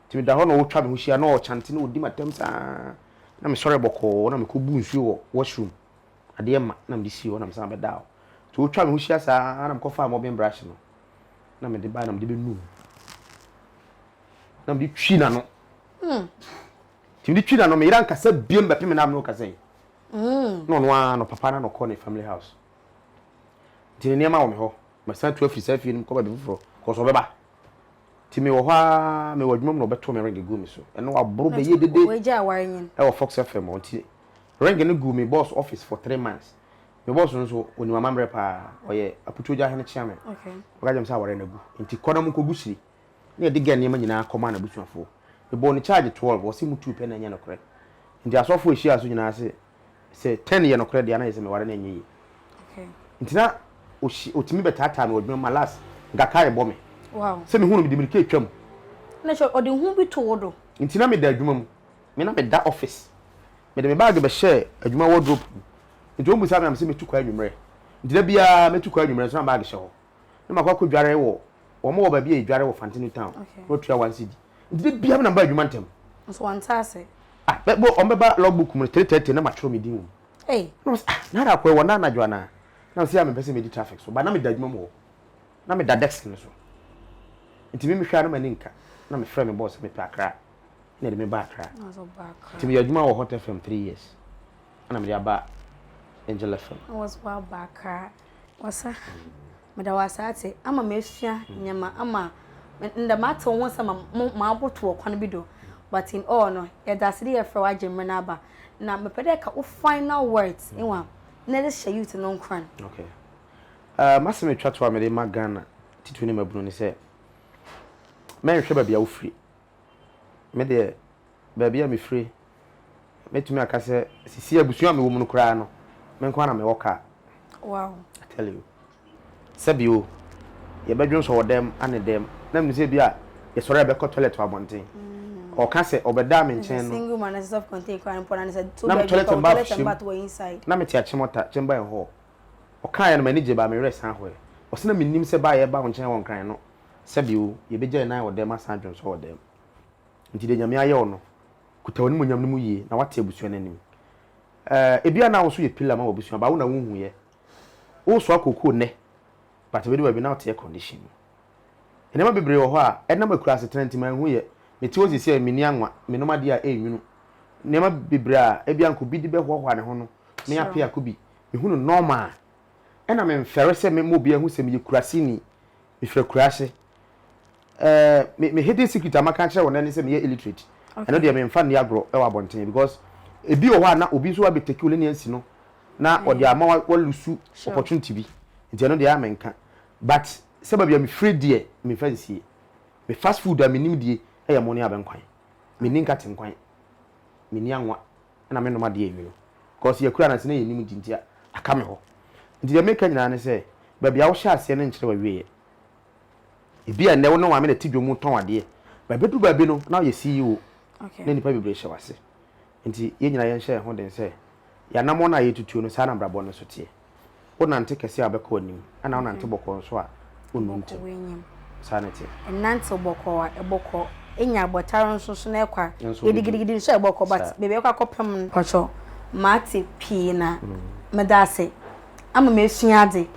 Nti meda hɔ na ɔtwa me ho hyia, na ɔkyante na ɔdi m'atɛm saa, na mesɔre bɔkɔɔ na mekɔbu nsuo wɔ wash room, adeɛ ma na mede sii hɔ na mesan bɛdaa hɔ. Nti ɔtwaa me ho hyia saa na mekɔfaa mopping brush no na mede bae na mede bɛnu mu na mede twi n'ano. Nti mede twi n'ano, meyere ankasa biam bɛpem na mene wo kasa yi. na ɔno ara no papa no na ɔkɔ ne family house nti ne nneɛma wɔ me hɔ masan tu afiri saa fie no mu kɔ baabi foforɔ kɔsɛ ɔbɛba nti mewɔ hɔ ara mewɔ adwuma mu na ɔbɛto me ring gu me so ɛno aboro bɛyɛ dede ɛwɔ Fox FM hɔ nti ring no gu me boss office for three months me boss no nso ɔnim amammerɛ paa ɔyɛ apotogya hene kyeame ɔka gyam sɛ aware no agu nti kɔ na mu nkɔgu siri na yɛde Gɛn nneɛma nyinaa kɔmaa n'abusuafoɔ. Mebɔɔ no charge twelve, ɔse motuu pɛ na ɛnyɛ nokorɛ. Nti asɔfoɔ a ɛhyiaa so nyinaa se sɛ ten yɛ nokorɛ deɛ a na ɛyɛ sɛ meware no ɛnyɛ yie. Nti na ɔtumi bɛtaataa me wɔ adwuma mu ma last nka car rebɔ me. Sɛ mehu no mede mirika retwa mu. Na kyerɛ ɔde hu bi to wo do. Nti na meda adwuma mu. Me na meda office. Mede me bag bɛhyɛɛ adwuma wardrobe mu. Nti wɔn bisa me a mese mɛtu kwan anwummerɛ. Nti da biara mɛtu kwan anwummerɛ nso na bag hyɛ hɔ. na makɔ akɔ dware wɔ wɔn wɔ baabi a yɛdware wɔ Fantinu town na wɔtua one cedi nti da biara na mba adwuma ntɛm. Nso wɔn nte ase. Ah bɛ bɔ wɔn bɛba log book mu no three thirty na matwerɛ me din wɔ mu. Ei. Na wɔsi ah na ada kɔ ɛwɔ na anadwo anaa na wɔsi a mempɛ sɛ medi traffic so but na meda adwuma mu hɔ na meda desk no so nti me mehwɛ a na m'ani nka na mefrɛ me boss sɛ mepɛ Accra na yɛde me ba Accra nti meyɛ adwuma wɔ Hot FM three years ɛna mede aba Angel FM. Na wɔsi wɔaba Accra. Ɔsa, meda wo ase atse ama mesua ndzɛmba ama ndɛ matse wo ho sɛ ma maboto wɔ kwan bi do but in all no yɛda ase dɛ yɛfrɛ wo agye mber no aba na mepɛ dɛ eka wo final words ewa na edze hyɛ youth no nkuran. Okay eh m'asem etwa to a mede rema Ghana titiriw ne mmabunu ne sɛ mɛnhwɛ baabi a wofiri. me deɛ baabi a mefire, mɛtumi aka sɛ sisi abusua a mewɔ mu no koraa no, me nko ara na mewɔ kaa. Wow. I tell you. Sɛbi o, yɛbɛdwen sɔ wɔ dɛm ane dɛm, na menim sɛ bi a yɛsɔre a yɛbɛkɔ toilet wɔ abɔnten. Mm. Ɔka sɛ ɔbɛdaa me nkyɛn no. Single man, ɛsɛ self-contained koraa no pɔ na ne sɛ to baabi kɔ, toilet and bath wɔ inside. Na mete akyemɔta, chamber and hall. Ɔkaeɛ no m'ani gye baa me werɛ san hɔɛ. Ɔse na menim sɛ baa yɛba wo nkyɛn wɔ Nkran no, sɛ bi o, yɛbɛgya yɛn nan wɔ dɛm asan adwonsɔ wɔ dɛm. Nti deɛ Nyame ayɛ wo no, kuta w'animuonyam no mu yie na woate abusua no anim. Eh, ebia na wo nso yɛ pillar ma w'abusua but wo na wonhuiɛ. Woresoa kookoo nnɛ but ɛbɛdu baabi na woteɛ condition mu. Nneɛma bebree wɔ hɔ a, ɛnam akurasetena nti manhuiɛ. Mete hɔ seesei a, menni anwa, menom adeɛ a ɛnnwunu. Nneɛma bebree a ebia anka obi de bɛhoahoa ne ho no, me Appiah Kubi, mehu no normal. Ɛna memfɛre sɛ mɛma obiara ahu sɛ meyɛ kuraseni. Mefiri Akuraase. Eh, me, me hidden secret a maka akyerɛ wo nnɛ ne sɛ meyɛ illiterate. Ɛno deɛ memfa nni agorɔ wɔ abɔnten because ebi wɔ hɔ a na obi nso abɛtake wo lane asi no na ɔde ama wa, wa lose opportunity bi. Nti ɛno deɛ a menka. But sɛ baabi a mefiri deɛ memfa nsie. Me fast food a menim die yɛ mo ne abɛnkwan. Menni nkate nkwan. Menni anwa. na mennom adeɛ anwunu cause yɛkura no ansa na yɛnnim nti nti aka me hɔ nti deɛ meka nyinaa ne sɛ baabi a wohyɛ aseɛ no nkyerɛ w'awieɛ ebia nnɛ wo ne maame na ti dwom mu tɔn adeɛ ba ɛbɛduru baabi no na woyɛ CEO na nnipa bebree hyɛ w'ase nti yɛn nyinaa yɛnhyɛ yɛn ho den sɛ yɛn anammɔn a yɛtutuo no saa na abrabɔ no nso teɛ. Wonante kɛse a, wobɛkɔ anim, ɛnna wonante bɔkɔɔ nso a, wonnu ntɛm. Wobɛkɔ w'anim. Saa na ɛteɛ. Nnantew bɔkɔɔ a, ɛbɔkɔ. Enya abɔtar nso so na ɛkɔ a, gidigidigidi nso a, ɛbɔkɔ. But baabi a ɛkɔ akɔpem no. Mpakyɛw, mate pii na meda ase. Ama m'asua adze.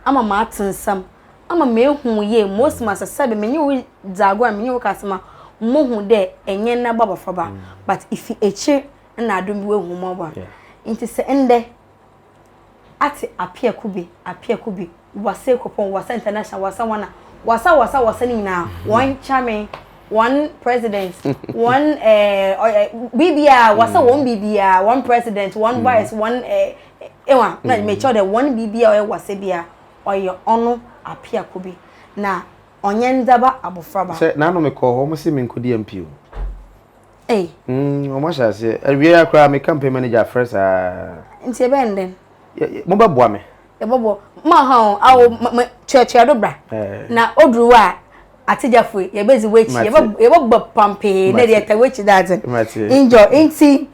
Ama m'ate nsɛm. Ama m'ehu wo yie. Mose ma sɛ sɛbe menye wo dzi agor a, menye wo ka asɛm a, mohu dɛ enye ndɛ bɔ abɔfraba, but ifi ekyir na adom bi woehu mbɔbɔ a. Ntsi sɛ ndɛ. ate apea kube, apea kube, wasa ekropɔn, wasa international, wasa wana, wasa wasa wasa ne nyinaa, wɔn chairman, wɔn president, wɔn ɛɛ biribiara, wasa wɔn biribiara, wɔn president, wɔn vice, wɔn ɛɛ ewa, na mekyɛw dɛ wɔn biribiara ɔyɛ wasa biara, ɔyɛ ɔno apea kube, na ɔnyɛ ndzaba abofraba. Sɛ n'ano mekɔɔ hɔ, wɔn se menkɔdi MP o. Ei. Mm, wɔn ahyɛ aseɛ. Awie ya koraa, me campaign manager afrɛ saa. Nti ɛbɛn dɛn? Mo bɛ boa me. Ɛbɔ bɔ. Mo aha o, awo mo kyerɛkyerɛ do bra. Na oduru wa ategyafo yɛ bɛ zi w'akyi. Yɛ bɛ yɛ bɛ bɔ pampee na yɛ ta w'akyi dadze. Enjoy. Nti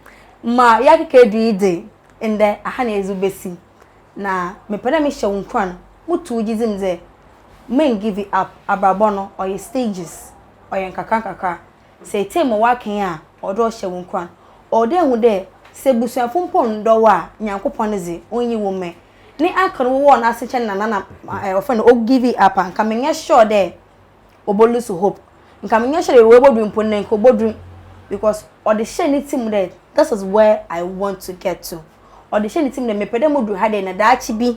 ma yɛ akeka edu yi de ndɛ aha na yɛ dze besi. Na me pɛ dɛ me hyɛ wo nkuran, mo tu wo gyedzi mu dɛ, men give up, abrabɔ no ɔyɛ stages, ɔyɛ nkakra nkakra. Sɛ etsee ma ɔakɛn a, ɔwɔ dɛ ɔhyɛ wo nkuran. Ɔwɔ dɛ ihu dɛ, sɛ ebusuafo mpo nndɔ wo a, Nyankopɔn dze, onnyi wo mɛ. Ne uncle no wowɔɔ no ase kyɛn na nana eh, wɔfrɛ no ogivi up a, nka mennyɛ sure dɛ obolusu hope. Nka mennyɛ sure dɛ ewuo bodu mpo ndɛ, nka obodu. Because ɔdze hyɛɛ ne tsir mu dɛ, this is where I want to get to. Ɔdze hyɛɛ ne tsir mu dɛ, mepɛ dɛ mudu ha dɛ na daakye bi.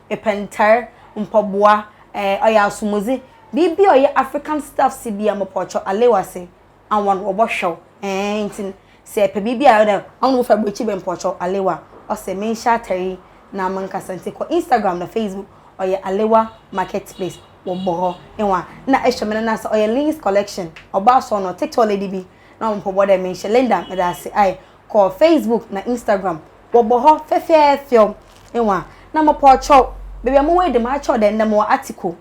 Epɛ ntar, mpaboa, eh, ɔyɛ asomdze, biribi a ɔyɛ African stuffs bi a, mopɔkyɛw, alew ase, aɔn, wɔbɔhwɛ wo, eh, ntsi no, sɛ epɛ biribi a ɔyɛ dɛ aɔn wofi aborɔkyir ba mu mopɔkyɛw, alew a, ɔsɛ menhyɛ atar yi na menkasa, ntsi kɔ Instagram na Facebook, ɔyɛ Alewa Marketplace, wɔbɔ hɔ, ehu a, nna ehwɛ me no na sɛ ɔyɛ Lyn's Collection, ɔbaa sɔɔnɔ, Tiktok lady bi, na ɔwɔ mpaboa dɛ menhyɛ, Linda, meda ase, ae. kɔ facebook na instagram wɔbɔ hɔ fɛfɛɛfɛw ewa na mo pɔ kyɛw baabi a mo wɔ yi de mo akyɛw dɛ ndɛ mo wɔ article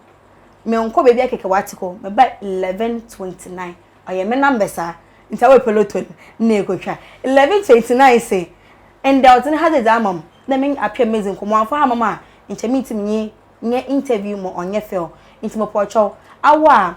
me nkɔ baabi akɛkɛ wɔ article me ba eleven twenty nine ɔyɛ me number saa nti awɔ pɛ loto no na ekotwa eleven twenty nine se ndɛ ɔdze ne ha dze dze ama mo na me apɛ me dze nkɔmɔ wɔamfa ha ma mo a nkyɛ me ntsi menye nyɛ interview mo ɔnyɛ fɛw nti mo pɔ kyɛw awɔ a.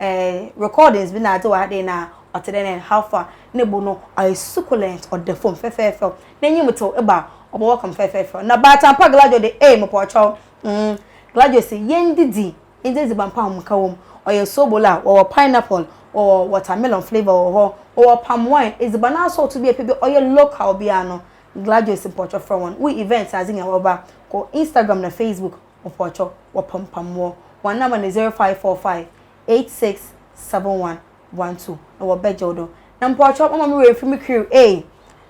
Eh, recordings bi na adze wɔ ha dɛn na ɔtse dɛn and how far? Ne bo no ɔyɛ succulent, ɔda famu fɛfɛɛfɛw, n'enyim tsew, eba a ɔbɔwɔ kam fɛfɛɛfɛw. Na baatan pa Gladio de, ei, mopɔɔkyɛw, mm, Gladio se, Yendidzi, yendzi edziban pa a ahomka wɔ mu. Ɔyɛ soobol a wɔwɔ pineapple, wɔwɔ watermelon flavour wɔ hɔ, wɔwɔ palm wine, edziban asɔɔto bi a epɛ biara, ɔyɛ local biara no, Gladio se mopɔɔkyɛw frɛ hɔn, wo event adze nyina wɔba, kɔ Instagram na Facebook. Mpɔkyɔ wɔpampam wɔ hɔn number no zero five four five eight six seven one one two na wɔbɛgye wo do na mpɔkyɔ mama me werɛ fir me crew ei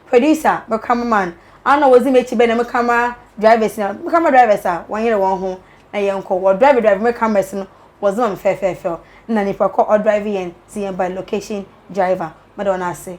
producer me camera man a na wɔdzi m'ekyir bɛn na me camera drivers nyina me camera drivers a wɔnyer hɔn ho na yɛnkɔ wɔ drive drive me cameras no wɔdze ma me fɛɛfɛɛfɛw nna nyimpa kor ɔdrive hɛn dze hɛn ba location driver meda hɔn ase.